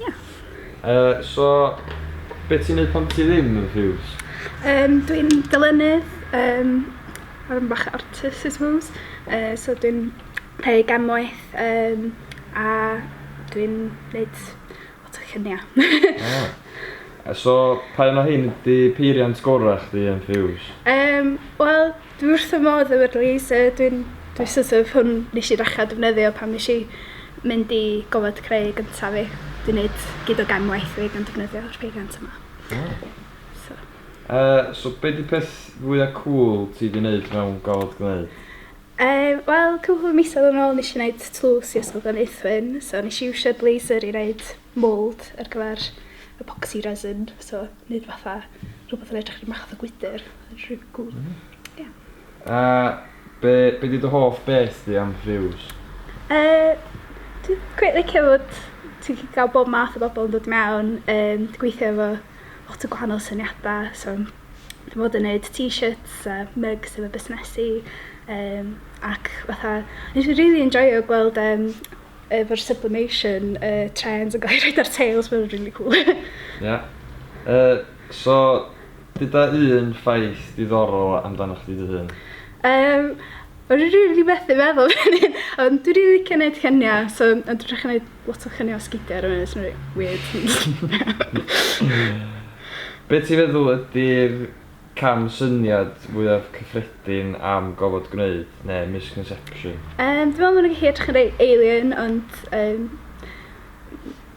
Ia. Yy so be' ti'n neud pan ti ddim yn Muse? Yym dwi'n dylynnydd yym a rwyn bach artist I suppose yy so dwi'n creu gan waith yym a dwi'n neud lot o llunia'. O. So pa un o rhein ydi peiriant gora' chdi yn Muse? Yym wel Dwi wrth fy modd efo'r laser dwi'n dwi sort of hwn nesh i ddechra defnyddio pan nesh i mynd i gofod creu gynta fi. Dwi neud gyd o gefn waith fi gan defnyddio'r peiriant yma. Hmm. So. Yy so be' 'di peth fwya cŵl ti 'di neud mewn gofod gneu'? Yym wel cwpwl o misoedd yn ôl nesh i neud tlws i Ysgol Gleneuthwyn so nesh i iwsio'r laser i neud mould ar gyfer epoxy resin, so neud fatha rhywbeth yn edrych rhyw math o gwydr. Mae'n rili cwl. Hmm. Ie. A be' be' 'di dy hoff beth di am Rhiws? Yy dwi cweit licio fod ti gallu ga'l bob math o bobol yn dod mewn yym dwi gweithio efo lot o gwahanol syniada so dwi fod yn neud t-shirts a mugs efo busnesu yym ac fatha nes i rili enjoio gweld yym efo'r sublimation uh, trends yn gael rhaid ar tails, mae'n really cool. Ia. yeah. Uh, so, dyda un ffaith diddorol amdano chdi dy hun? Um, Mae'n rili really methu meddwl fan hyn. Ond dwi'n rili licio gwneud lluniau, so ond dwi'n rhaid gwneud lot o lluniau o sgidiau ar y funud, sy'n rili weird. Be ti'n feddwl ydy'r Camsyniad fwyaf cyffredin am gofod gwneud, neu misconception? Yym dwi me'wl ma' nw'n gallu edrych yn reit alien ond yym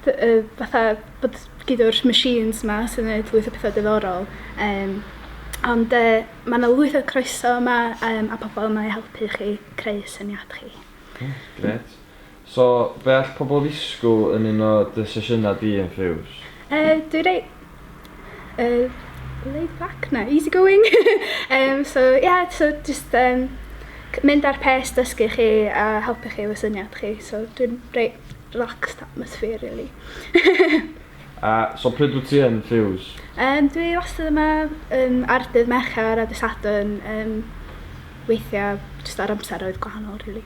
f- yy fatha bod gin do'r machines 'ma sy'n neud lwyth o petha diddorol yym ond yy ma' 'na lwyth o croeso yma yym a pobol yma i helpu chi creu syniad chi. Oce grêt. So, be all pobl ddisgwyl yn un o dy sesiynau di yn Fuse? Yy, dwi reit yy laid back? Na, easy going! Yym, so ie, so jyst yym c- mynd ar pace, dysgu chi a helpu chi efo syniad chi, so dwi'n reit relaxed atmosphere rili. A, so pryd wyt ti yn Fuse? Yym, dwi wastad yma yym ar dydd Mercher a dydd Sadwrn, yym weithia' jyst ar amseroedd gwahanol rili.